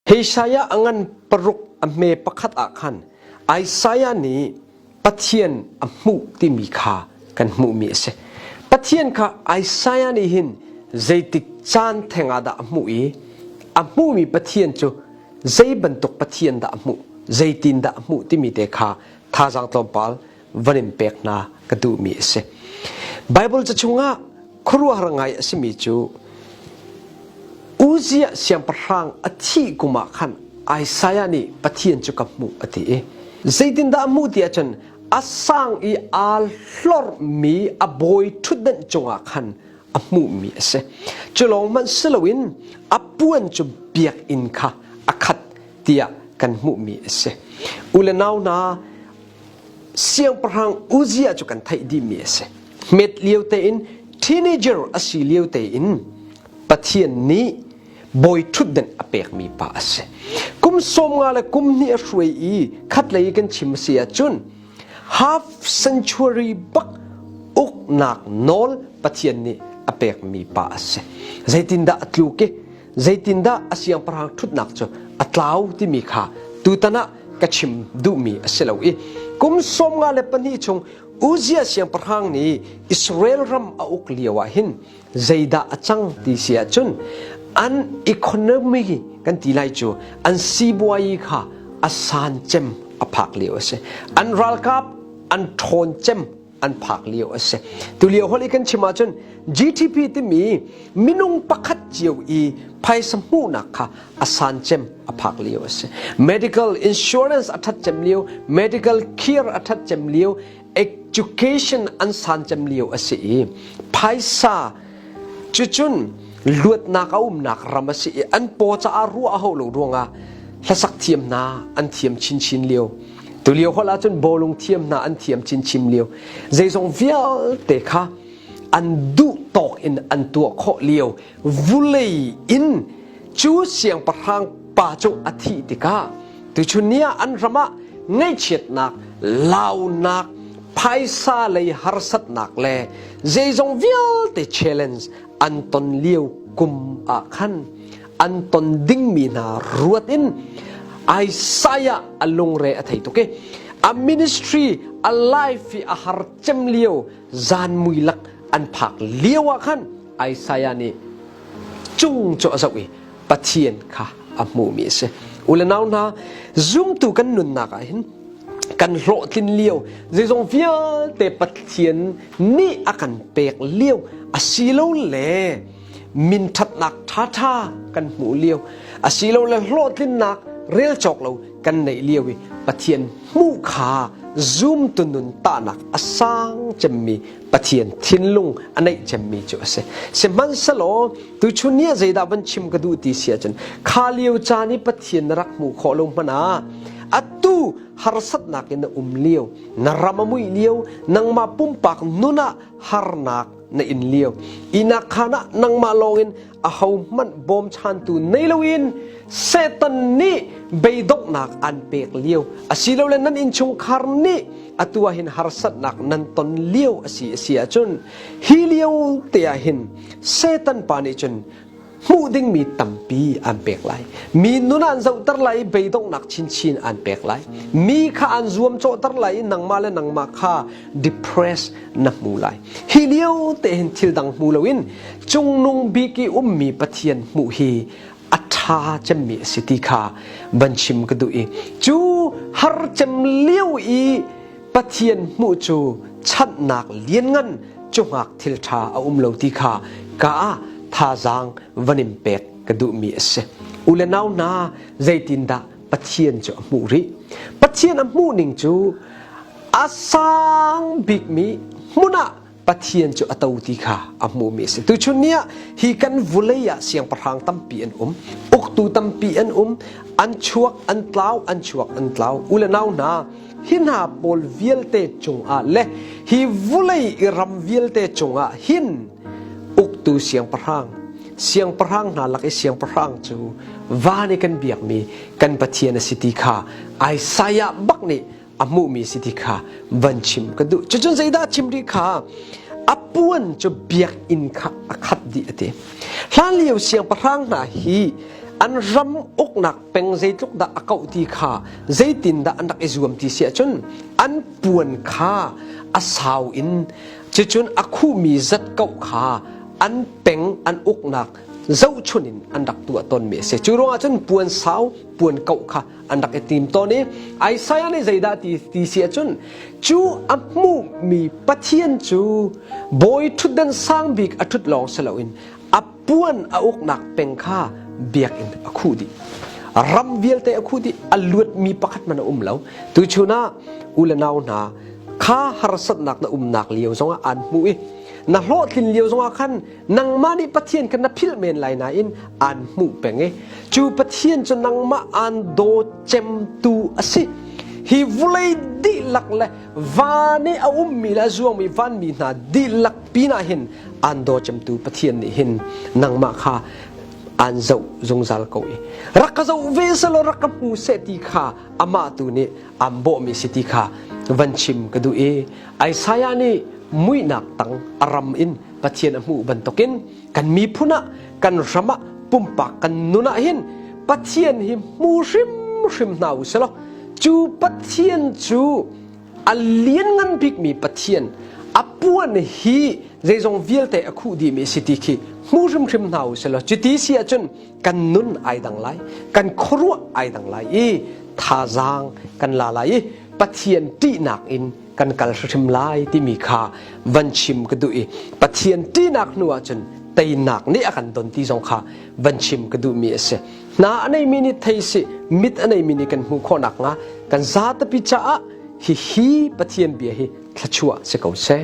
Isaiah a ngan paruk a hme pakhat ah khan Isaiah nih Pathian a hmuh timi kha kan hmuhmi a si. Pathian kha Isaiah nih hin zeitik caan theng ah dah a hmuh i a hmuhmi Pathian cu zei bantuk Pathian dah a hmuh, zeitin dah a hmuh timi te kha thazaang tlawmpal van in pek hna ka duhmi a si. Baibal ca chungah khuaruahhar ngai a simi cu Uzziah siangpahrang a thih kum ah khan Isaiah nih Pathian cu ka hmuh a ti i zeitindah a hmuh tiah cun a sang i aa hlormi a bawi ṭhutdenh cungah khan a hmuhmi a si. Cu lawng hmanh si loin a puan cu biakinn kha a khat tiah kan hmuhmi a si. U le nau hna, siangpahrang Uzziah cu kan theih dihmi a si met lio tein teenager a si lio tein Pathian nih bawi ṭhutden a pekmi pa a si kum sawm nga le kum hnih a hruai i khatlei kan chim a si ahcun half century bak uknak nawl Pathian nih a pekmi pa a si zeitindah a tluk i zeitindah a siangpahrang ṭhutnak cu a tlau timi kha tutan ah ka chim duhmi a si lo i kum sawmnga le pahnih chung Uzziah siangpahrang nih Israel ram a uk lio ah hin zeidah a cang ti si ahcun an economy kan ti lai cu an sibuai kha a san cem a phak lio a si an ralkap an ṭhawn cem an phak lio a si tulio holi kan chim ahcun GDP timi minung pakhat cio i phaisa hmuhnak kha a san cem a phak lio a si medical insurance a that cem lio medical care a that cem lio education an san cem lio a si i phaisa cucun luatnak a umnak ram a si i an po caah ruah a hau lo ruangah hlasak thiam hna an thiam chinchin lio Tulio holh ahcun bawlung thiam hna an thiam chinchim lio zeizong vialte kha an duh tawk in an tuah khawh lio vulei in cu siangpahrang pa cung a thih tikah tuchun ni ah an ram ah ngaihchiatnak launak phaisa lei harsatnak le zeizong vialte challenge an ton lio kum ah khan an ton dingmi hna ruat in Isaiah a lungre a thei tuk i a ministry a life hi a har cem lio zan mui lak an phak lio ah khan Isaiah nih cung cu a zoh i Pathian kha a hmuhmi a si ule nau hna zumtu kan nunnak ah hin kan hlawhtlin lio zeizong vialte Pathian nih a kan pek lio a si lo le min ṭhatnak ṭhaṭha kan hmuh lio asilole hlawhtlinnak rel cawk lo kan neih lio i Pathian hmuh kha zumtu nun tahnak a sang cemmi Pathian thinlung a neih cemmi cu a si sihmanhselaw tuchun ni ah zeidah van chim ka duh ti si ahcun kha lio caan i Pathian na rak hmuh khawh lo hmanh ah atu harsatnak in na um lio na ram a muih lio nangmah pumpak nun ah harnak na in liao inak khan ah nangmah lawngin aho hmanh bawmchantu nei loin setan nih beidoknak an pek lio asilole nan inchungkhar nih atu ah hin harsatnak nan ton lio asi asi ahcun hi lio te ah hin setan pa nih cun hmuh dingmi tampi an pek lai mi nun ah an zohter lai i beidongnak chinchin an pek lai mi kha an zuamcawhter lai i nangmah le nangmah kha depress na hmu lai hi lio te hin thil dang hmu loin cungnung bik i ummi pathian hmuh hi a ṭha cemmi a si ti kha van chim ka duh i cu har cem lio i Pathian hmuh cu chanhnak lianngan cu hngak thil ṭha a um lo ti kha ka ah thazaang van in pek ka duhmi a si. U le nau hna, zeitindah Pathian cu a hmuh rih? Pathian a hmuh ning cu a sang bikmi hmun ah Pathian cu a to ti kha a hmuhmi a si. Tuchun ni ah hi kan vulei ah siangpahrang tampi an um. Uktu tampi an um. An chuak, an tlau, an chuak, an tlau. U le nau hna, hi hna pawl vialte cungah le hi vulei i ram vialte cungah hin uktu siangpahrang siangpahrang hna lak i siangpahrang cu van i kan biakmi kan Pathian a si ti kha Isaiah bak nih a hmuhmi si ti kha van chim ka duh cucun zeidah chim rih kha a puan cu biakinn kha a khat dih a ti hlan lio siangpahrang hna hi an ram uknak peng zeitluk dah a kauh ti kha zeitindah an rak i zuam ti si ahcun an puan kha a sau in cicun a khuhmi zat kauh kha an peng an uknak zohchun in an rak tuah tawnmi a si cu ruangah cun puan sau puan kauh kha an rak i tim tawn i Isaiah nih zeidah ti ti si ahcun cu a hmuhmi Pathian cu bawi ṭhutdan sang bik a ṭhut lawng si loin a puan a uknak peng kha biakinn a khuh dih ram vialte a khuh dih a luatmi pakhat man a um lo tuchun ah u le nau hna kha harsatnak na umnak lio zongah aan hmuh i na hlawhtlin lio zongah khan nangmah nih Pathian kha na philh men lai nain aan hmuh peng i cu Pathian cu nangmah aan daw cemtu a si hi vulei dihlak le van i a ummi le a zuangmi vanmi hna dihlak pinah hin aan daw cemtu Pathian nih hin nangmah kha aan zoh zungzal ko i rak ka zoh ve selaw rak ka hmu seh ti kha amah tu nih aan bawhmi si ti kha van chim ka duh i Isaiah nih muihnak tang a ram in Pathian a hmuh bantukin kan miphun ah kan ram ah pumpak kan nun ah hin Pathian hi hmu hrimhrim hna u selaw cu Pathian cu a lianngan bikmi Pathian a puan hi zeizong vialte a khuh dihmi si ti khi hmu hrimhrim hna u selaw cuti si ahcun kan nun ai dang lai kan khuaruah ai dang lai i thazaang kan la lai i Pathian ṭihnak in kan kal hrim lai timi kha van chim ka duh i Pathian ṭinak hnu ahcun teinak nih a kan don ti zong kha van chim ka duhmi a si hna a neimi nih thei si mit a neimi nih kan hmuh khawh nakhnga kan za tapi caah hi hi Pathian bia hi thlachuah si ko seh